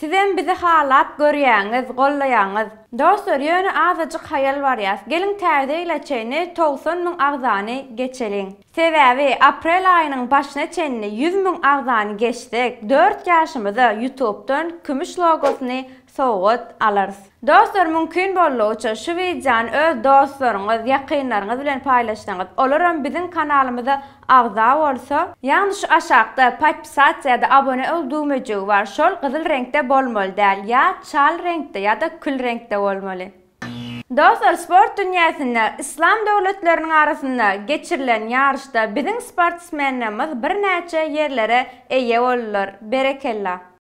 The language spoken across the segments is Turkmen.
Sizem bizi halap görýäňiz, gollaýaňyz. Dostlar ýöne azajyk haýal barýas. Geliň täze ýyla çenli togsan müň agzany geçeliň. Sebäbi aprel aýynyň başyna çenli ýüz müň agzany geçsek, dört ýaşymyza ýutubdan kümüş logosyny sowgat alarys. Dostlar mümkin boldugyça şu wideony öz dostlaryňyz, ýakynlaryňyz bilen paýlaşsaňyz, olaram biziň kanalymyza agza bolsa, Ýagny şu aşakda Podpisatsa ýa-da Abone ol düwmejigi bar, şol gyzyl reňkde bolmaly däl, ýa çal reňkde ýa-da kül reňkde bolmaly. Dostlar sport dünýäsinde Yslam döwletleriniň arasynda geçirilen ýaryşda biziň sportsmenlerimiz birnäçe ýerlere eýe boldular. Berekella.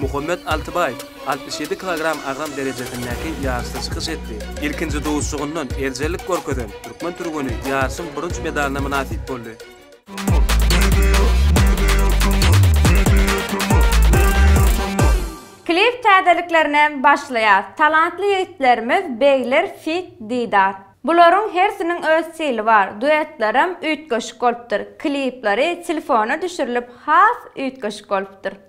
Muhammet Altybaýew altmyş ýedi kilogram agram derejesindäki ýaryşda çykyş etdi. Ilkinji duşuşygyndan erjellik görkezen türkmen türgeni ýaryşyň bürünç medalyna mynasyp boldy. Klip täzeliklerine başlaýas talantly ýigitlerimiz Begler feat Didar. Bularyň hersiniň öz stili bar, duetlerem üýtgeşik bolupdyr, klipleri telefona düşürilip has üýtgeşik bolupdyr.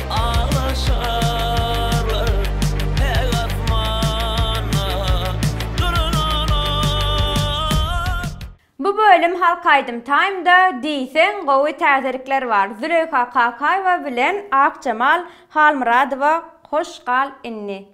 Bu bölüm Halk Aýdym Time-da diýseň gowy täzelikler bar. Züleýha Kakaýewa bilen Akjemal Halmyradowa Hoş gal inni.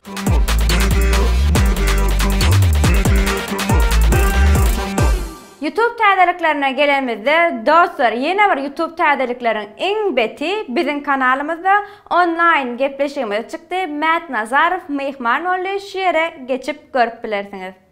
Youtube täzeliklerine gelenimizde dostlar ýene bir youtube täzelikleriň iň beti biziň kanalymyzda onlaýn gepleşigimiz çykdy Mät Nazarow myhman boldy şu ýere geçip görüp bilersiňiz.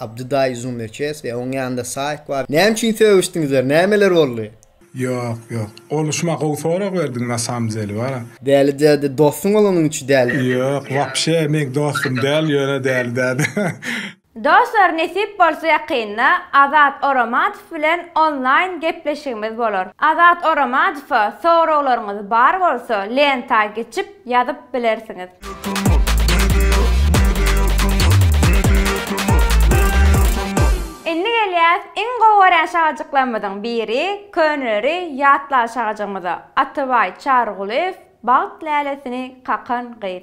Abdy daýy zoom öçes we oň ýanynda saýk bar näme üçin sögüşdiňizler nämeler boldy. Ýok ýok. Olyşma gowy sorag berdiň na sam deli wa. Däli däde dostuň bolanyň üçin däli. Ýok wapşe meň dostum däl ýöne däli däde. Dostlar nesip bolsa ýakynda Azat Oramadow bilen onlaýn gepleşigimiz bolar. Azat Oramadowa soraglaryňyz bar bolsa lenta geçip ýazyp bilersiňiz. Indi gelýäs iň gowy görýän şagajyklarymyzyň biri, köneleri ýatlan şagajygymyza, Atabaý Çarygulyýew Bagt lälesini kakan gyz.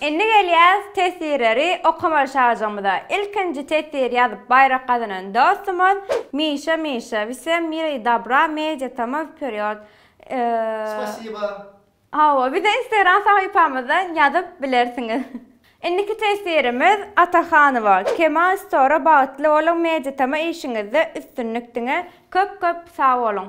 Indi gelýäs tesirleri okamaly şajygymyza. Ilkinji tesir ýazyp baýrak gazanan dostumyz Mişa Mişa Wsem mira i dobra media tama wperýod Spasiba. Hawa bize instagram sahypamyzdan ýazyp bilersiňiz. Indiki tesirimiz Atahanowa Kemal Stora bagtly boluň media tama işiňizde üstünlik diňe köp köp sag boluň.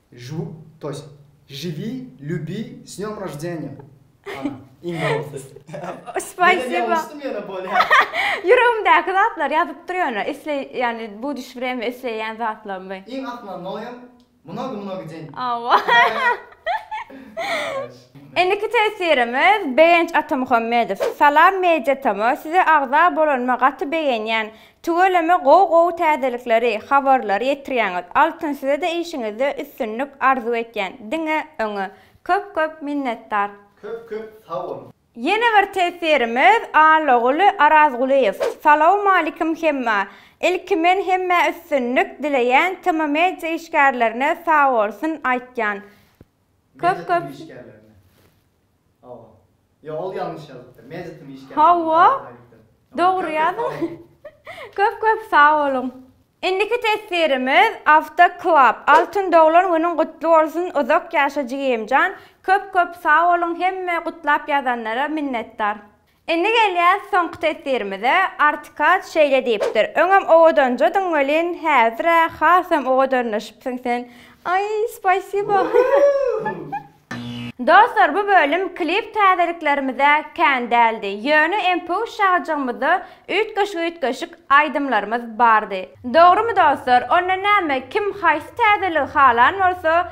Žu, to ýest, žiwi, lýubi, s dňom roždeniýa, ana, iň dogrusy. Menä ýalňyşdym ýöne bolýa. Ýüregimdäki zatlar ýazyp dur ýöne, isleý, ýagny bu düş wremýa isleýän zatlarymy. Iň asmanoýam, mnogo mnogo deň. Indiki teswirimiz Begenç Atamuhammedow. Salam Media Tama, size agza bolanyma gaty begenýän. Tüweleme gowy gowy täzelikleri, habarlary ýetirýäňiz. Altyn sizede işiňizde üstünlik arzuw etýän. Diňe öňe. Köp köp minnetdar. Köp köp sag boluň. Ýene bir teswirimiz Allaguly Arazgulyýew. Salawmalikim hemmä. Ilki men hemmä üstünlik dileýän tmmedia işgärlerine sagbolsun aýtýan. Köp köp Hawa dogry ýazyň. Köp köp sag boluň. Indiki teswirimiz Awto Club Altyn doglan günüň gutly bolsun uzak ýaşa jigimjan köp köp sag boluň hemme gutlap ýazanlara minnetdar. Indi gelýäs soňky teswirimize, Artikaç şeýle diýipdir, Öňem owadanjadyň welin, häzir-ä hasam owadanlaşypsyň sen. Aý, spasibo! Dostlar, bu bölüm klip täzeliklerimize kän däldi. Ýöne MPU şajygymyzda üýtgeşik-üýtgeşik aýdymlarymyz bardy. Dogrymy dostlar? Onda näme, kim haýsy täzeligi halan bolsa,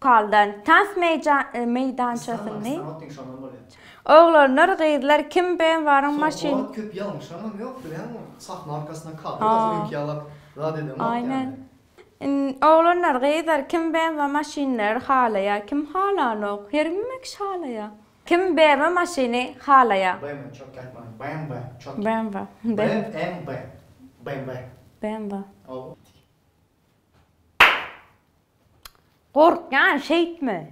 Kaldan tans meýdançasyny. Oglanlar gyzlar kim ben waryň maşyn. Aýnen. Oglanlar gyzlar kim ben wa maşynlar halaýa kim halanok hergmme kiş halaýa. Kim bmw maşyny halaýa. Bmw. Bmw. Bmw. Bmw. Gorkýan şeýtme.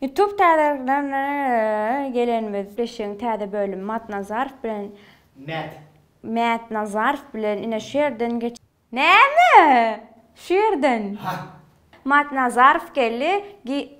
Youtube täzeliklerine gelenimiz. Beşigiň täze bölümi Matnazarow bilen Mät. Mät Nazarow bilen ine şu ýerden geç. Näme? Şu ýerden. Matnazarow geldi.